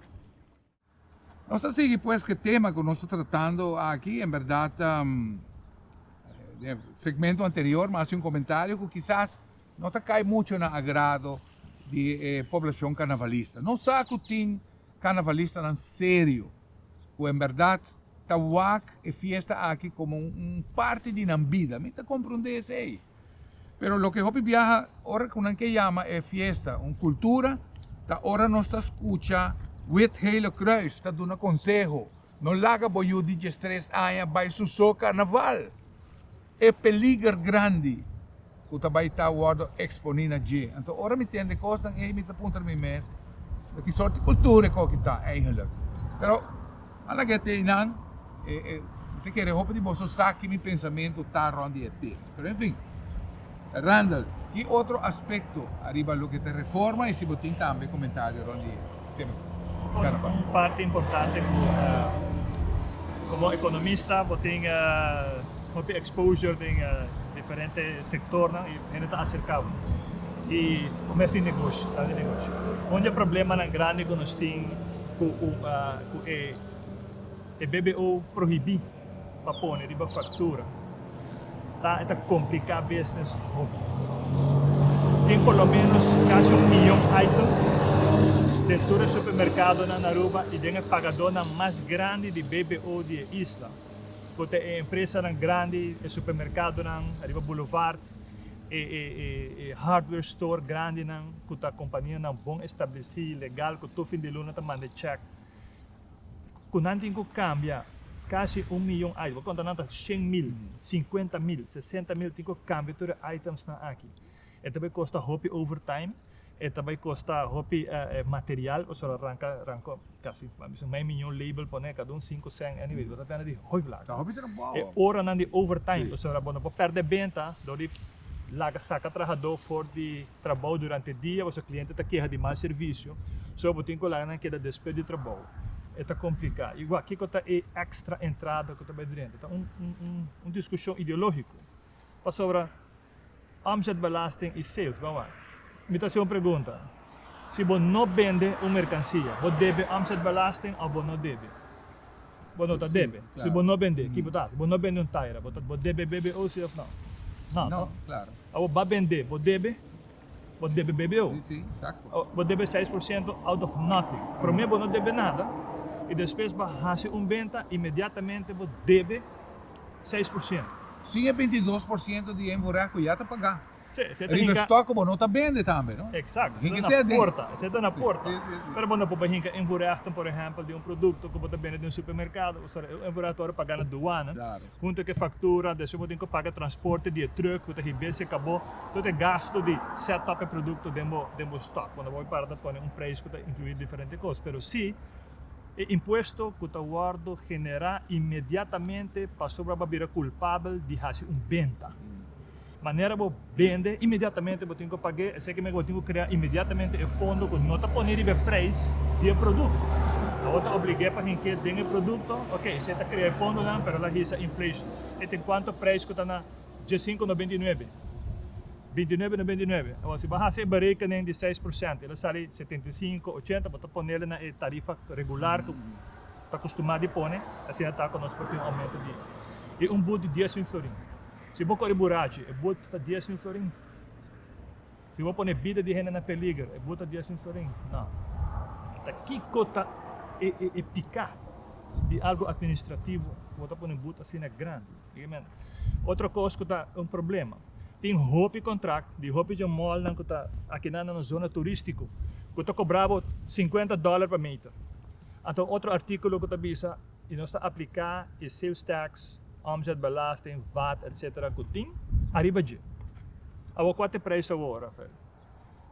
Speaker 1: Nos ta sigui pues ku e tema ku nos ta tratando aki, en berdad den e segmento anterior mi a hasi un komentario ku kisas no ta kai mucho na agrado di e poblashon karnavalista, nos sa ku tin karnavalistanan serio ku en berdad ta wak e fiesta aki komo un parti di nan bida, mi ta komprondé esei. Pero loke hopi biaha ora ku nan ke yama e fiesta un kultura ta ora nos ta skucha Wit-Hele Croes ta duna konseho, no laga bo yu di diestres aña bai suso karnaval. E peliger grandi ku ta bai ta wòrdu eksponí na dje. Anto ora mi tende kosnan ei mi ta puntra mi mes, Di ki sòrti kultura e koki ta eihenlik? Pero A la get ei nan, mi ta kere hopi di boso sa ki mi pensamentu ta rond di e tema. Pero enfin, Randall, ki otro aspekto ariba loke ta reforma i si bo tin tambe komentario rond di e tema aki? Kiko ta un
Speaker 2: parti importante ku komo ekonomista bo tin hopi exposure den diferente sektornan i hende ta aserka bo i bo mester tin negoshi, ta di negoshi. Un di e problemanan grandi ku nos tin ku. ku e BBO prohibí pa pone riba faktura ta e ta kompliká bisnis hopi. Tin por lo ménos kasi un miyon item den tur e supermerkadonan na Aruba i den e pagadónan mas grandi di BBO di e isla, ku ta e empresanan grandi, e supermerkadonan riba bulevard, e hardware store grandinan ku ta kompanianan bon establesí i legal ku tur fin di luna ta manda e chèk ku nan tin ku kambia kasi un miyon item, bo konta nan ta shen mil, sinkuenta mil, sesenta mil tin ku kambia tur e itemsnan aki. E ta bai kosta hopi overtime. E ta bai kosta hopi material pasobra lo ranka ranko kasi a bisin mai miñon label pone kada un sinku sèn anyway bo ta tende di hoi blaka. E
Speaker 1: oranan di
Speaker 2: overtime pasobra bo no por pèrdè benta dor di laga saka trahadó for di trabou durante e dia pasobra kliente ta keha di mal servisio so bo tin ku laga nan keda despè di trabou e ta kompliká i wak kiko ta e èkstra entrada ku ta bai drenta ta un un diskushon ideológiko pasobra. Omzetbelasting i sales bawa. Mi ta hasi un pregunta. Si bo no bende un merkansia, bo debe omzetbelasting òf bo no debe? Bo no ta debe. Si bo no bend'é, ki bo ta hasi? Bo no bende un taira, bo debe BBOC òf nau? Nau to.
Speaker 1: Awor bo a bend'é,
Speaker 2: bo debe? Bo debe bebeu. Bo
Speaker 1: debe seis por
Speaker 2: siento out of nothing. Prome bo no debe nada y despues bo a haci un benta inmediatamente bo debe seis por siento. Sin e
Speaker 1: bintidos por siento di e voorrecht cu ya ta paga riba e stock
Speaker 2: cu bo no
Speaker 1: ta bende tambe, no? Exacto. Esei ta na porta. Esei ta
Speaker 2: na
Speaker 1: porta.
Speaker 2: Pero bo no por bay
Speaker 1: hinca
Speaker 2: e voorrechten, por ehempel, di un producto cu bo ta bende den un supermercado, u sa e voorrecht ta worde paga na douane. Hunto ke
Speaker 1: faktura
Speaker 2: do esei bo tin ku paga transporte di e truk ku ta hib'é si e kab'ó tot e gastu di set up e produkto den bo den bo stock wòrdu bo para ta pone un preis ku ta inkluir diferente kos pero si e impuesto ku ta wòrdu generá inmediatamente pasobra bo a bira kulpabel di hasi un benta. Manera bo bende, inmediatamente bo tin ku pag'é, esei ke meka bo tin ku krea inmediatamente e fondo ku no ta pone riba e preis di e produkto. Abo ta oblig'é pa hink'é den e produkto, oke, esei ta krea e fondonan, pero el a hisa inflation. E tin kuantu preis ku ta na diesinku nobenta i nuebe, bintinuebe nobenta i nuebe. Awor, si bo hasi e berekenen di seis por sento, el a sali setenta i sinku, ochenta, bo ta pone'l na e tarifa regular ku ta kustumá di pone, asina ta ku nos por tin un oumento di un bud di dies mil florin. Si bo kore burachi, e bud ta dies mil florin? Si bo pone bida di hende na peliger, e bud ta dies mil florin? Nau. Ta kiko ta e e e piká di algu atministrativo ku bo ta pone bud asina grandi? Bigamente. Otro kos ku ta un problema, tin hopi kontrakt di hopi dje mòlnan ku ta akinan na nos zona turístiko ku ta kobrá bo sinkuenta dòler pa meter. Anto otro artíkulo ku ta bisa i nos ta apliká e sales taks omzetbelasting, vat etc. Ku tin ariba dje. Awor kua ta e prijs awor, Rafael?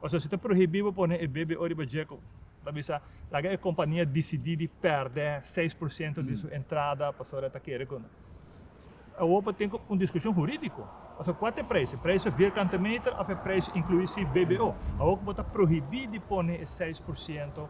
Speaker 2: Pasobra si ta prohibí bo pone e BBO riba dje ku ta bisa laga e kompania disidí di pèrdè seis por siento di su entrada pasobra e ta kere ku awor por tin un diskushon hurídiko pasobra kua ta e prijs? E prijs ta vierkante meter òf e prijs inkluí si BBO? Awor ku bo ta prohibí di pone e seis por siento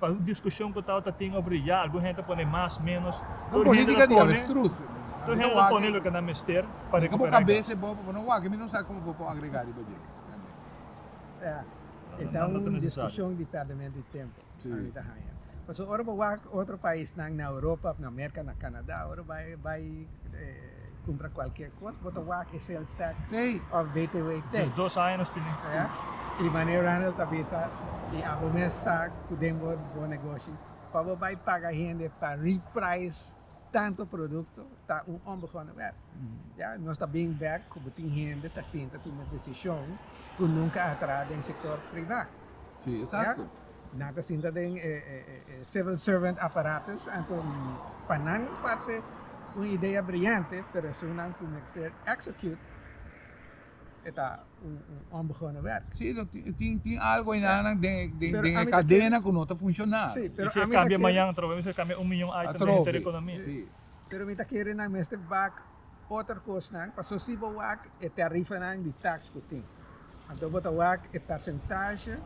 Speaker 2: Pa un diskushon ku tabata tin over di ya, algun hende ta pone mas, menos, tur hende ta pone
Speaker 1: tur hende ta pone
Speaker 2: loke nan mester pa rekuperá gas. E ta
Speaker 1: un diskushon di
Speaker 3: pèrdemento
Speaker 2: di
Speaker 3: tempu nan mi ta haña.
Speaker 1: Pasobra ora
Speaker 3: bo wak otro paisnan na Europa òf na Merka, na Kanada, ora bai bai. Cumpra cualkier cos bo ta wak e sales tax krijt of btw
Speaker 1: tax. Just
Speaker 3: dos aña nos tin aki.
Speaker 2: Ya. Y mane
Speaker 3: Ronald ta bisa y abo mes sa cu den bo bo negoshi pa bo bay paga hende pa reprice tanto producto ta un onbegonnen werk. Ya. Nos ta bring back cu bo tin hende ta sinta tuma decision cu nunca a traha den sector priva.
Speaker 1: Nan ta sinta
Speaker 3: den e civil servant apparatus anto pa nan parse un idea brillante pero esunnan cu mester execute e ta un onbegonnen werk. Si, lo tin tin
Speaker 1: algo ayina nan den e
Speaker 3: cadena cu no ta
Speaker 1: funciona. Si, pero ami ta kere. Y si e cambia
Speaker 2: mañana
Speaker 3: atrobe,
Speaker 2: mi ta cambia un miyon item den e hinter di economia. Si. Pero mi
Speaker 1: ta kere
Speaker 3: nan mester bak. otro cosnan, paso si bo wak e tarifanan di tax cu tin, anto bo ta wak e percentahe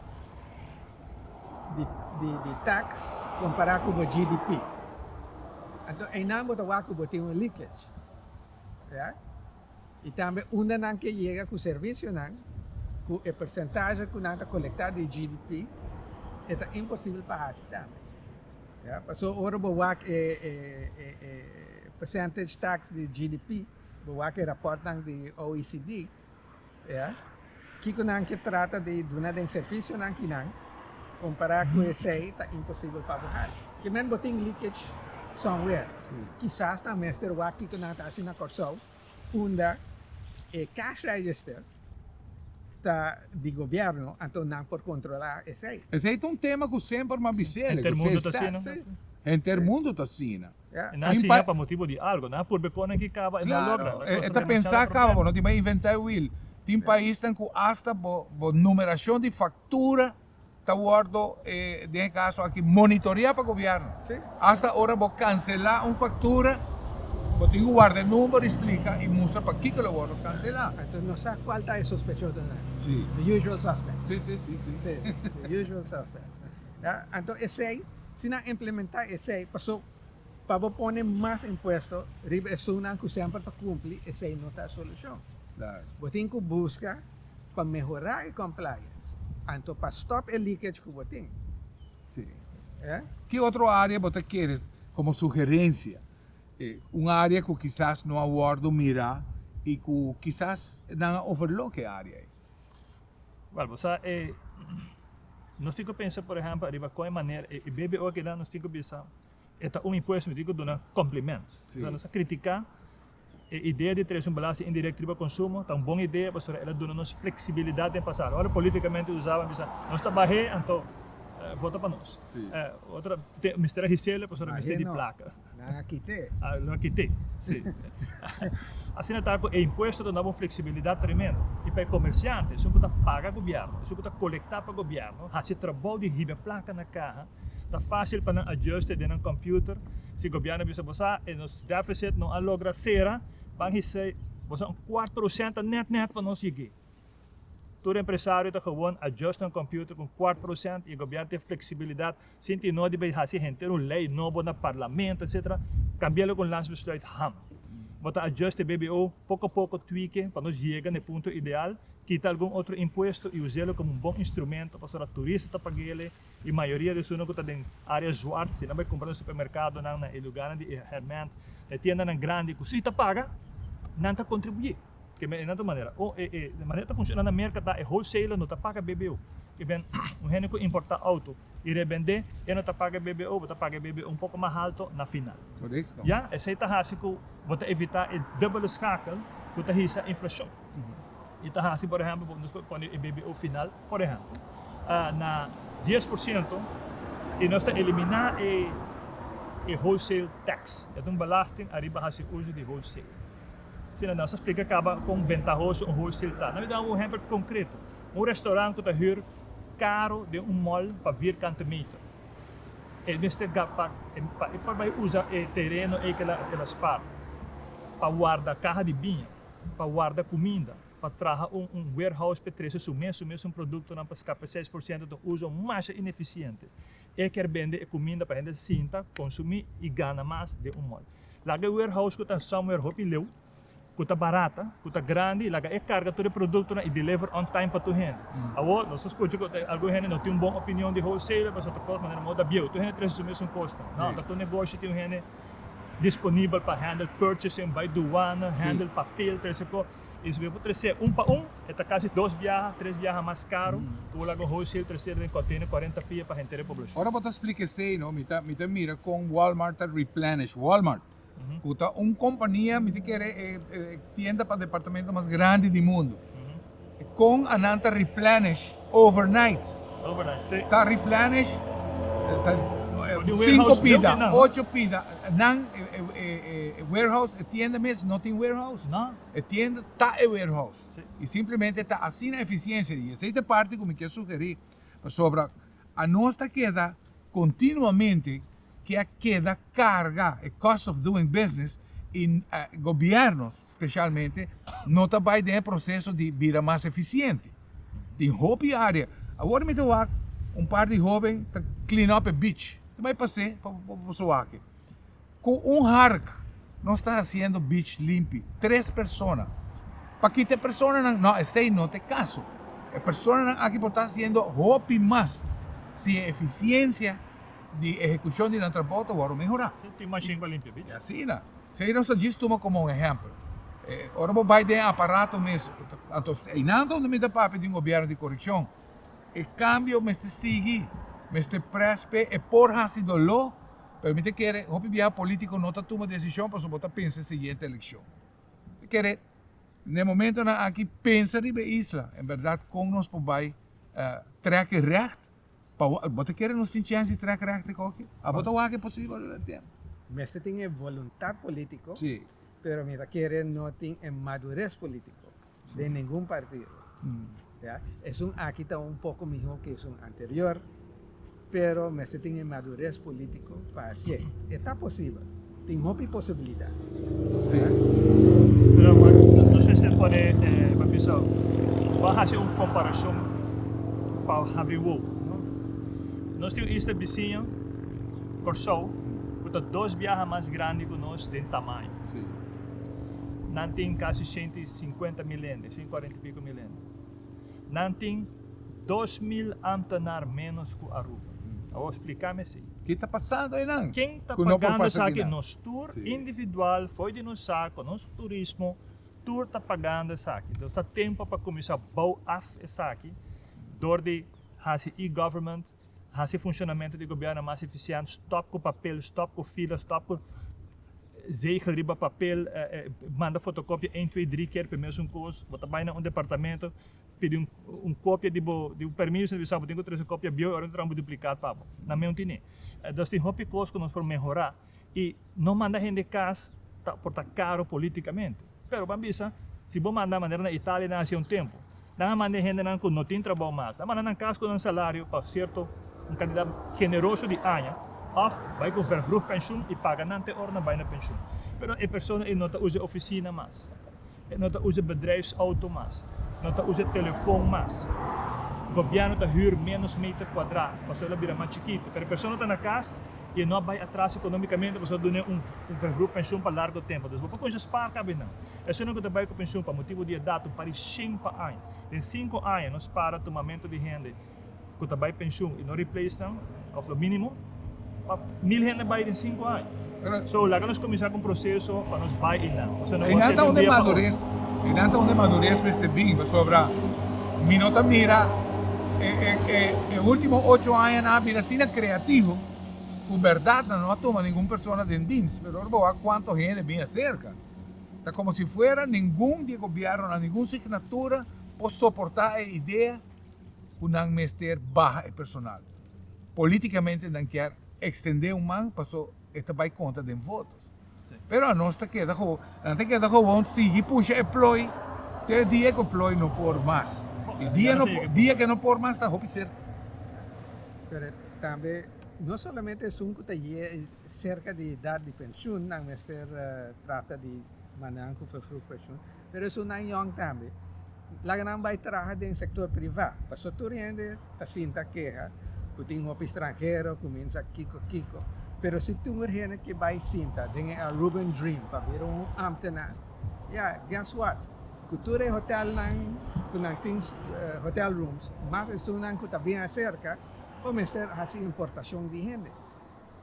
Speaker 3: di tax compara cu bo GDP, anto eynan bo ta wak cu bo tin un leakage, oye, y tambe unda nan ke yega cu servicionan cu e percentahe cu nan ta colecta di GDP e ta imposible pa haci tambe, oye, paso ora bo wak e Percentage tax di GDP, bo wak e rapòrtnan di OECD, ya, kiko nan ke trata di duna den servisionan kinan kompará ku esei ta imposibel pa bo hal. Ke men bo tin leakage somewhere. Kisas nan mester wak kiko nan ta hasi na Kòrsou unda e cash register ta di gobièrnu, anto nan por kontrolá esei. Esei ta un tema ku
Speaker 1: semper m'a bis'é, ku seis tax.
Speaker 2: Henter mundu
Speaker 1: ta asina. Nan a siña pa
Speaker 3: motibu di
Speaker 2: algu. Nan a purbe pone nan ki kaba, e no a logra. Nan konstru demasiado problema. E ta pensa
Speaker 1: kaba bo no tin pa inventá e wiel. Tin paisnan ku asta bo bo numerashon di faktura ta wòrdu den e kaso aki monitoreá pa gobièrnu. Asta ora
Speaker 3: bo
Speaker 1: kanselá un faktura bo tin ku warda e number i splika i mustra pakiko lo wòrdu kanselá. Entos no sa kual
Speaker 3: ta e sospechoso nan. The usual
Speaker 1: suspects.
Speaker 3: The usual suspects. Ya, anto esei, si nan implementá esei, paso pa bo pone mas impuesto riba esunnan ku semper ta kumpli, esei no ta e solushon. Klaro. Bo tin
Speaker 1: ku buska
Speaker 3: pa mehorá e compliance, anto pa stòp e leakage ku bo tin. Sí. Ya. Ki otro área
Speaker 1: bo ta kere komo sugerensia, e, un área ku kisas no a wòrdu mirá i ku kisas nan a overlook e área ei?
Speaker 2: Bal bo sa e nos tin ku pensa por ehèmpel ariba kon e manera e BBO a keda nos tin ku bisa e ta un impuesto mi tin ku duna komplemènt si nos a kritiká e idea di tres un belasting indirekto riba konsumo ta un bon idea pasobra el a duna nos fleksibilidat den pasado ora politikamente usá bo a bisa nos ta bah'é anto bota pa nos otra mester a hisela pasobra mester di plaka. Nan a kite.
Speaker 3: A lo a kite,
Speaker 2: si. Asina ta ku e impuesto ta duna bo un fleksibilidat tremendo. I pa e komersiante, esun ku ta paga gobièrnu, esun ku ta kolektá pa gobièrnu, hasi trabou di hib'e plaka na kaha, ta fásil pa nan adjùste den nan kòmpiuter. Si gobièrnu a bisa bo sa e nos dèfisit no a logra sera, ban hisei bo sa un kuart prosènt ta nèt nèt pa nos yeg'é. Tur empresario ta gewòn adjùst nan kòmpiuter ku un kuart prosènt i e gobièrnu tin fleksibilidat Sinti no di bay hasi henter un ley nobo na parlamento etc. Cambia loke un lans besluit ham. Bo ta adjust e BBO poco poco tweake pa nos yega na e punto ideal, kita algun otro impuesto y uselo como un bon instrumento pasobra turista ta pagele y mayoria de esunan cu ta den area zwart si nan bay cumpra na supermercadonan, na e lugarnan di e herment, na e tiendanan grandi cu si ta paga nan ta contribuye. Ke ben enanto manera. Oh e e manera ta funciona na merka ta e wholesaler no ta paga BBO. Ke ben un hende ku importa auto y rebende e no ta paga BBO, bo ta paga e BBO un poko mas halto na final. Korekto. Ya, esei
Speaker 1: ta hasi
Speaker 2: ku bo ta evita e dubele skakel ku ta hisa inflashon. Y ta hasi por ehempel bo nos por pone e BBO final por ehempel na dies por siento y nos ta elimina e e wholesale tax. E ta un belasting ariba hasi uso di wholesale. Asina nan sa splika caba con ventahoso un wholesale ta. Nan lo daba un ehempel concreto, un restaurant cu ta huur caro den un mall pa vierkante meter. E mester gasta pa e por bay usa e tereno ey kela e la spaar pa warda caha di biña, pa warda cuminda, pa traha un un warehouse p'e trece su mes su mes un productonan pa scapa seis por ciento ta un uso masha ineficiente. E kier bende e cuminda pa hende sinta, consumi y gana mas den un mall. Laga e warehouse cu ta somewhere hopi leu, cu ta barata, cu ta grandi y laga e carga tur e productonan y deliver on time pa tur hende. Awor, nos ta scucha cu ta algun hende no tin un bon opinion di wholesaler pasobra ta cost manera moda bieu. Tur hende ta recibi mesun cosnan. No, ta tur negoshi tin un hende disponibel pa handle purchasing, bay douana, handle papel, ta recibi cos. I si bo por tres'é un pa un, e ta kasi dos biaha, tres biaha mas karu ku bo laga un wholesale tres'é den kònteinè kuarenta pia pa henter e poblashon. Ora bo ta splika esei,
Speaker 1: no, mi ta mi ta mira kon Walmart ta replenish. Walmart, ku ta un kompania, mi ta kere e tienda pa departamento mas grandi di mundu, kon a nan ta replenish? Overnight
Speaker 2: ta replenish
Speaker 1: sinku pida, ocho
Speaker 2: pida,
Speaker 1: nan e warehouse, e tienda mes no tin warehouse, e tienda
Speaker 2: ta
Speaker 1: e warehouse y simplemente
Speaker 2: ta
Speaker 1: asina eficiencia di, y esey ta e parti cu mi kier sugeri, pasobra anos ta keda continuamente ke a keda carga e cost of doing business y gobiernos Specialmente no ta bay den e proceso di bira mas eficiente. Tin hopi area. Awor mi ta wak un par di hoben ta clean up e beach. Ta bay pase pa boso wake. Cu un hark nos ta haciendo beach limpi. Tres persona. Pa kita e personanan? No, esey no ta e caso. E personanan aki por ta haciendo hopi mas si e eficiencia di ehecucion di nan trabao ta wòrdu mehorá. Tin machine pa limpia
Speaker 2: beach? Asina. Sei nos
Speaker 1: ta djis tuma komo un ehèmpel. Ora bo bai den e aparato mes, anto esei einan ta unda mi ta papia di un gobièrnu di korupshon. E kambio mester sigui, mester près p'e e por hasi doló, pero mi ta kere hopi biaha polítiko no ta tuma desishon pasobra bo ta pensa e siguiente elekshon. Mi ta kere n'e momentonan aki pensa riba e isla, en bèrdat kon nos por bai trèk e rècht Pa wak, bo ta kere nos tin chèns di trèk rèk te koke? A bo ta wak e posibel lo den temp? Mester tin e
Speaker 3: voluntat polítiko, pero mi
Speaker 1: ta kere
Speaker 3: no tin e madures polítiko den ningun partido, ya. Esun aki ta un poko mihó ke esun anterior, pero mester tin e madures polítiko pa hasié. E ta posibel. Tin hopi posibilidad.
Speaker 2: Sí. Pero nos mister pone, eh, pa bisa, pa hace un comparacion pa habri wou, no? Nos tin un isla bisiño, Corsou, cu ta dos biaha mas grandi cu nos den tamaño. Sí. Nan tin casi ciento y cincuenta mil hende, ciento cuarenta y pico mil hende. Nan tin dos mil amtanar ménos ku Aruba. A wou spliká mesei. Ke ta pasando
Speaker 1: einan? Ken ta pagando
Speaker 2: esaki? Nos tur
Speaker 1: individual fo'i di
Speaker 2: nos sa ku nos turismo tur ta pagando esaki. Entos ta tempu pa kuminsá bou af esaki dor di hasi e-government. hasi funshonamentu di gobièrnu mas efisiènt, stòp ku papel, stòp ku fila, stòp ku zegel riba papel, manda fotokopia ein twee drie keer pe mes un kos, bo ta bai na un departamentu pidi un kopia di bo di bo permiso na bisa bo tin ku trese kopia bieu i ora bo ta traha un duplikat pa bo, na meu tin e. Dos tin hopi kos ku nos por mehorá. y no manda hende cas ta por ta caro politicamente. Pero ban bisa, si bo manda manera na Italia nan hacia un tempo, nan a manda e hendenan cu no tin trabao mas, a manda nan cas cu nan salario pa cierto un cantidad generoso di aña, of bay cu vervroeg pensioen y paga nan te ora nan bay na pensioen. Pero e persona ey no ta uza e oficina mas. No ta usa bedrijfsauto mas. No ta usa telefon mas. Gobièrnu ta hür ménos meter kuadrá pasobra el a bira mas chikitu. Pero e persona ta na kas i e no a bai atras ekonomikamente pasobra duna e un verhrup penshun pa largu tempu. Dus bo por kuminsá spaar kabia nan. Esunnan ku ta bai ku penshun pa motibu di edat un par di shen pa aña. Den sinku aña nos para tumamentu di hende. ku ta bai penshun i no replace nan òf lo mínimo pa mil hende bai den sinku aña. So, laga nos kuminsá ku un proseso pa nos bai einan. Nos no por a hasié di un dia pa otro. Einan ta
Speaker 1: unda e maduris mester bin, pasobra mi no ta mira e último ocho aña nan a bira asina kreativo ku bèrdat nan no a tuma ningun persona den dins. Pero ora bo wak kuantu hende bin aserka, ta komo si fuera ningun di e gobièrnunan, ningun signatura por soportá e idea. ku nan mester baha e personal. Polítikamente nan kier ekstendé un man paso e ta bai kontra den votos. Pero anos ta keda gewoon, nan ta keda gewoon sigui pusha e ploi te e dia ku e ploi no por mas. E dia no por, dia ku e no por mas ta hopi serka.
Speaker 3: Pero tambe no solamente esun ku ta ye serka di edat di penshun nan mester trata di manera ku vervroeg penshun. Pero esun nan yòn tambe. Laga nan bai traha den sektor privá. Paso tur hende ta sinta keha ku tin hopi stranhero ku minsa kiko kiko. Pero si tin un hende ke bai sinta den e Aruban Dream pa bira un ámtenan, ya, guess what? Ku tur e hotèlnan ku nan tin hotel rooms, mas esunnan ku ta bien aserka, bo mester hasi importashon di hende.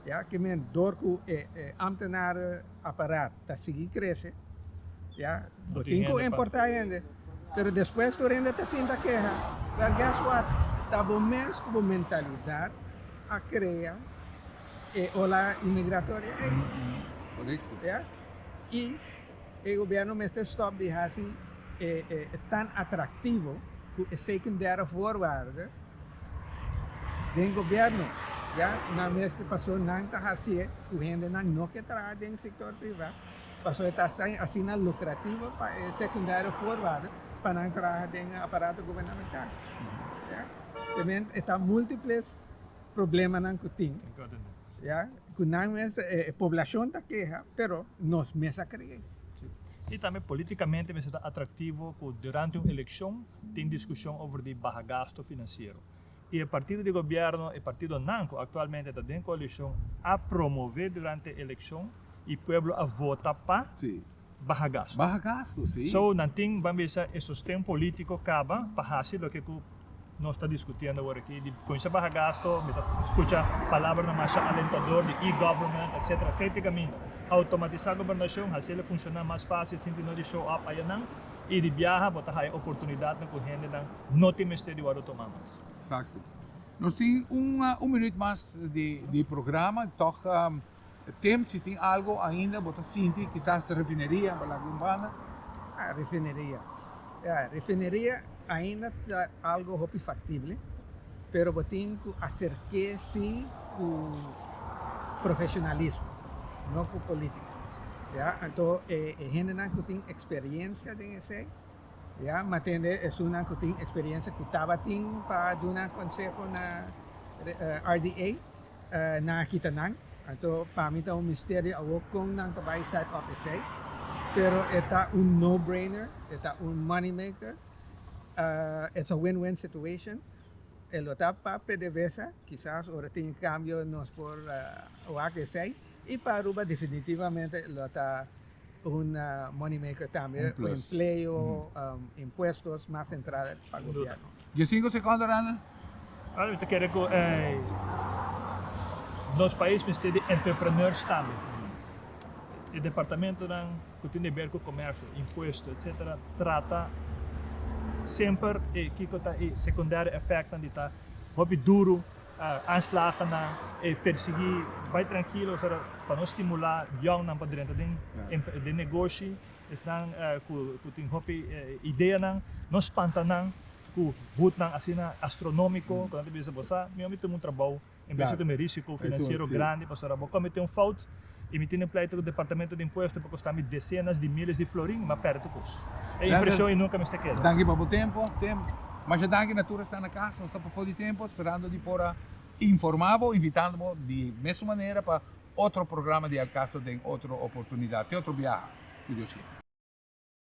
Speaker 3: E aki men, dor ku e ámtenar aparat ta sigui krese, ya lo tin ku
Speaker 2: importá hende,
Speaker 3: pero despues tur hende ta sinta keha. Well, guess what? Ta bo mes ku bo mentalidat a krea e ola imigratoria ei.
Speaker 1: Ya.
Speaker 3: I. E gobierno mester stop di hasi e tan atractivo cu e secundero voorwaarde den gobierno, ya nan mester paso nan ta hacié cu hendenan no ke traha den sector priva paso e ta asina lucrativo pa e secundero voorwaarde pa nan traha den aparato gubernamental. Te meen e ta multiples. problemanan ku tin ya ku nan mes e poblacion ta keha pero nos mes a kree. Si i tambe
Speaker 2: politikamente mester ta atraktivo ku durante un elekshon tin diskushon over di baha gasto finansiero i e partido di gobièrnu e partidonan ku aktualmente ta den koalishon a promove durante e elekshon i pueblo a vota pa. baha
Speaker 1: gastu. Baha
Speaker 2: gastu, sí. So,
Speaker 1: nan tin, ban bisa,
Speaker 2: e sosten polítiko kaba pa hasi loke ku nos ta diskutiendo awor aki di kuminsá baha gastu. Mi ta skucha palabra namasha alentador di e-government, etsetera. Esei ta e kaminda. Outomatisá gobernashon, hasiel a funshoná mas fásil sinti no di show up ayanan. I di biaha bo ta haya oportunidatnan ku hendenan no tin mester di wòrdu tomá mas. Eksakto.
Speaker 1: Nos tin un minüt mas di programa, tòg. Tim, si tin algo ainda bo ta sinti, kisas refineria bo laga un banda. Ah,
Speaker 3: refineria. Ya, refineria ainda ta algo hopi factible, pero bo tin cu acerke si cu profesionalismo, no cu politica, ya. Anto e hendenan cu tin experiencia den esey, ya, mi a tende esunnan cu tin experiencia cu tabatin pa duna conseho na RDA. nan a kita nan. Anto pa mi ta un misterio awor kon nan ta bai site of esey pero e ta un no brainer e ta un money maker it's a win win situation e lo ta pa pdvsa kisas ora tin e cambio nos por wak esey y pa Aruba definitivamente lo ta Un money maker tambe cu empleo, impuestos mas central pa gobierno. Dies cinco secondo
Speaker 1: Randall. Well mi ta kere
Speaker 2: cu nos pais mester di entrepreneurs tambe. E departamentonan cu tin deber cu comercio, impuesto etc. Trata semper e kico ta e secundario effectnan di ta hopi duro Aanslagennan e persiguí bai trankilo ora pa no stimulá yòngnan pa drenta den negoshi. Esnan ku tin hopi ideanan, no spanta nan ku hutnan asina astronómiko ku nan ta bisa, bo sa, mi bai tuma un trabou en bes di tuma un risiko finansiero grandi pasobra bo komet'é un fout. I mi tin e pleito ku Departamento di Impuesto pa kostami desenas di miles di florin, ma pèrdè tur kos. E impreshon i nunka mester keda. Danki pa bo tempo.
Speaker 1: Masha danki na tur e sta na kas. Nos ta pafó di tempu sperando di por a informá bo, invitando bo di mesun manera pa otro programa di El Caso den otro oportunidat. Te otro biaha, ku Dios kere.